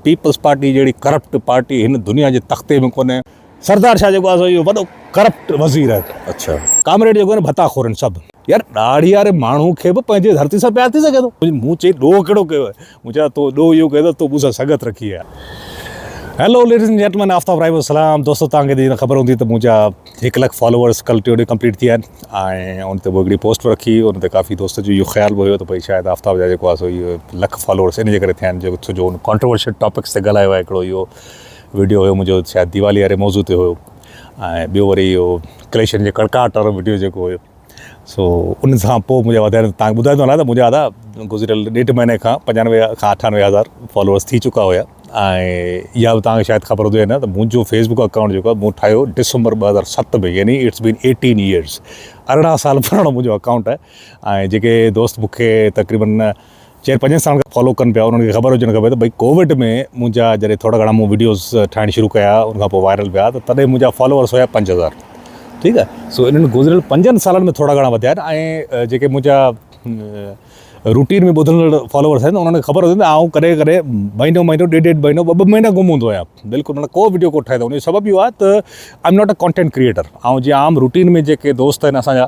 Peoples party جهڙي corrupt party هن دنيا جي تختي ۾ ڪونهي. سردار شاهه جيڪو آهي سو اهو وڏو ڪرپٽ وزير آهي. اڇا. ڪامريڊ جيڪو آهي نه ڀتا خورن سڀ. يار ڏاڙهي واري ماڻهو کي به پنهنجي ڌرتي سان پيار ٿي سگهي ٿو. مون چيس ڏوهه ڪهڙو ڪيو آهي. مون چيس تو ڏوهه اهو ڪيو اٿس تو مون سان سنگت رکي آهي. Hello ladies and gentlemen Aftab Rai جو سلام دوستو توهان کي ته خبر هوندي ته منهنجا هڪ لک فالوورس ڪل ٽيون ڏينهن ڪمپليٽ ٿي ويا آهن ۽ ان تي مون هڪڙي پوسٽ به رکي ان تي ڪافي دوستن جو اهو خيال به هيو ته ڀئي شايد آفتاب جا جيڪو آسو اهو لک فالوورس ان جي ڪري ٿيا آهن جو ڇو جو ان ڪانٽروورشل ٽاپڪس تي ڳالهايو آهي هڪڙو اهو ويڊيو هيو منهنجو شايد ديوالي واري موضوع تي هيو ۽ ٻيو وري اهو ڪليشن جي ڪڙڪاٽ وارو ويڊيو جيڪو هيو سو ان سان پوء منهنجا وڌايا ته تانکي ٻڌايو ته نه ته منهنجا ادا گذريل ڏيڍ مهيني کان پنجانوي کان اٺانوي هزار فالوورس ٿي چڪا هيا ۽ اها به تانکي شايد خبر هجي يا نه ته منهنجو فيس بڪ اڪائونٽ جيڪو آهي مون ٺاهيو ڊسمبر ٻه هزار ست ۾ يعني اٽس بين ايٽين ايئرس ارڙهن سال پراڻو منهنجو اڪائونٽ آهي ۽ جيڪي دوست مون کي تقريبن چيئر پنجن سالن کان فالو ڪن پيا انهن کي خبر هجڻ کپي ته ڀئي ڪووڊ ۾ منهنجا جڏهن ٿورا گهڻا مون وڊيوز ٺاهڻ شروع ڪيا ان کان پوء وائرل ويا ته تڏهن منهنجا فالوورس هيا پنج هزار ٺيڪ آهي سو انهن گذريل پنجن سالن ۾ ٿورا گهڻا وڌيا آهن ۽ جيڪي منهنجا روٽين ۾ ٻڌندڙ فالوورس آهن انهن کي خبر هجي ته آئون ڪڏهن ڪڏهن مهينو مهينو ڏيڍ ڏيڍ مهينو ٻه ٻه مهينا گم هوندو آهيان بلڪل مطلب ڪو وڊيو ڪونه ٺاهي ته ان جو سبب اهو آهي ته I am not a content creator آئون جيئن عام روٽين ۾ جيڪي دوست آهن اسان جا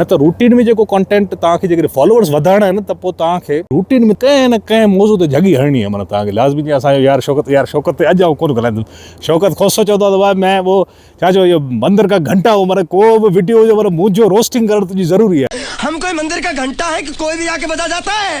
نه ته روٽين ۾ جيڪو ڪانٽينٽ توهان کي جيڪڏهن فالوورز وڌائڻا آهن ته پوء توهان کي روٽين ۾ ڪنهن نه ڪنهن موضوع تي جهڳي هڻڻي آهي معنيٰ توهان کي لازمي جيئن اسان جو يار شوڪت يار شوڪت تي اڄ آئون ڪونه ڳالهائيندس شوڪت کوسو چوندو آهي ته مين وو ڇا چئبو اهو مندر ڪا گهنٽا هو معنيٰ ڪو به وڊيو هجي معنيٰ منهنجو روسٽنگ ڪرڻ تنهنجي ضروري آهي. هم ڪوئي مندر ڪا گهنٽا هي ڪه ڪوئي ڀي آڪي بجا جاتا هي.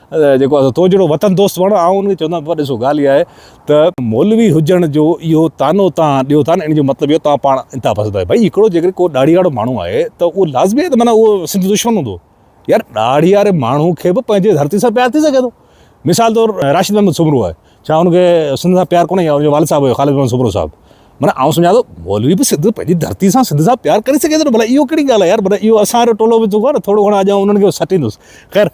جيڪو آهي سو تو جهڙو وطن دوست وڻ آئون ان کي چوندم پر ڏسو ڳالهه اها آهي ته مولوي هجڻ جو اهو طعنو توهان ڏيو ٿا نه ان جو مطلب اهو توهان پاڻ انتها پسند آهيو ڀائي هڪڙو جيڪڏهن ڪو ڏاڙهياڙو ماڻهو آهي ته اهو لازمي آهي ته معنيٰ اهو سنڌ جو دشمن هوندو يار ڏاڙهياڙي ماڻهو کي به پنهنجي ڌرتي سان پيار ٿي سگهي ٿو مثال طور راشد محمد سومرو آهي ڇا ان کي سنڌ سان پيار ڪونهي يا ان جو والد صاحب هيو خالد محمد سومرو صاحب معنيٰ آئون سمجهان ٿو مولوي به سنڌ پنهنجي ڌرتي سان سنڌ سان پيار ڪري سگهي ٿو نه ڀلا اهو ڪهڙي ڳالهه آهي يار معنيٰ اهو اسان جو ٽولو به ٿو ڪو نه ٿورو گهڻو اڄ آئون انهن کي سٽيندس خير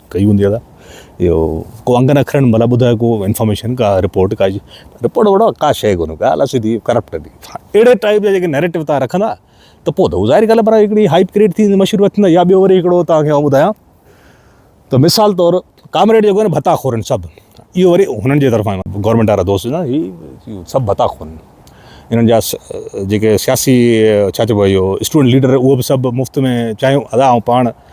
ڪئي هوندي ادا اهو ڪو انگن اکرن مطلب ٻڌايو ڪو انفارميشن ڪا رپورٽ ڪا رپورٽ وپورٽ ڪا شيء ڪونه ڳالهه سڌي ڪرپٽ ڏي اهڙي ٽائيپ جا جيڪي نيريٽو تان رکندا ته پوء ته ظاهر ڳالهه پر هڪڙي هائپ ڪريٽ ٿي مشهور وٿندا يا ٻيو وري هڪڙو تان کي ٻڌايان ته مثال طور ڪامريڊ جيڪو آهن ڀتا خورن سڀ اهو وري هنن جي طرفان گورنمنٽ وارا دوست نه هي سڀ ڀتا خورن انهن جا جيڪي سياسي ڇا چئبو اهو اسٽوڊنٽ ليڊر اهو به سڀ مفت ۾ چاهيون ادا آئون پاڻ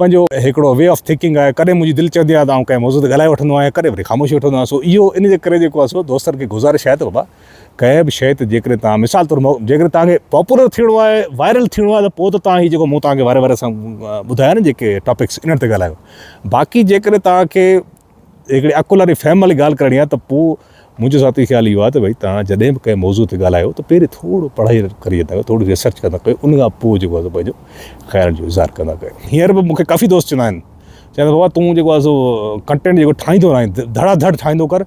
پنهنجو هڪڙو وي آف ٿڪنگ آهي ڪڏهن منهنجي دل چوندي آهي ته آئون ڪنهن موضوع تي ڳالهائي وٺندو آهيان ڪڏهن وري خاموشي وٺندو آهيان سو اهو ان جي ڪري جيڪو آهي سو دوستن کي گذارش آهي ته بابا ڪنهن به شئي تي جيڪڏهن توهان مثال طور جيڪڏهن توهان کي پاپولر ٿيڻو آهي وائرل ٿيڻو آهي ته پوء ته توهان هي جيڪو مون توهان کي واري واري سان ٻڌايا نه جيڪي ٽاپڪس انهن تي ڳالهايو باقي جيڪڏهن توهان کي جي هڪڙي عقل واري فهم واري ڳالهه ڪرڻي آهي ته پوء منهنجو ذاتي خيال اهو آهي ته ڀئي توهان جڏهن به ڪنهن موضوع تي ڳالهايو ته پهرين ٿورو پڙهائي ڪري ويندا ڪيو ٿوري ريسرچ ڪندا ڪيو ان کان پوء جيڪو آهي پنهنجو خيال جو اظهار ڪندا ڪيو هينئر به مون کي ڪافي دوست چوندا آهن چوندا آهن بابا تون جيڪو آهي سو ڪنٽينٽ جيڪو ٺاهيندو آهين ڌڙا ڌڙ ٺاهيندو ڪر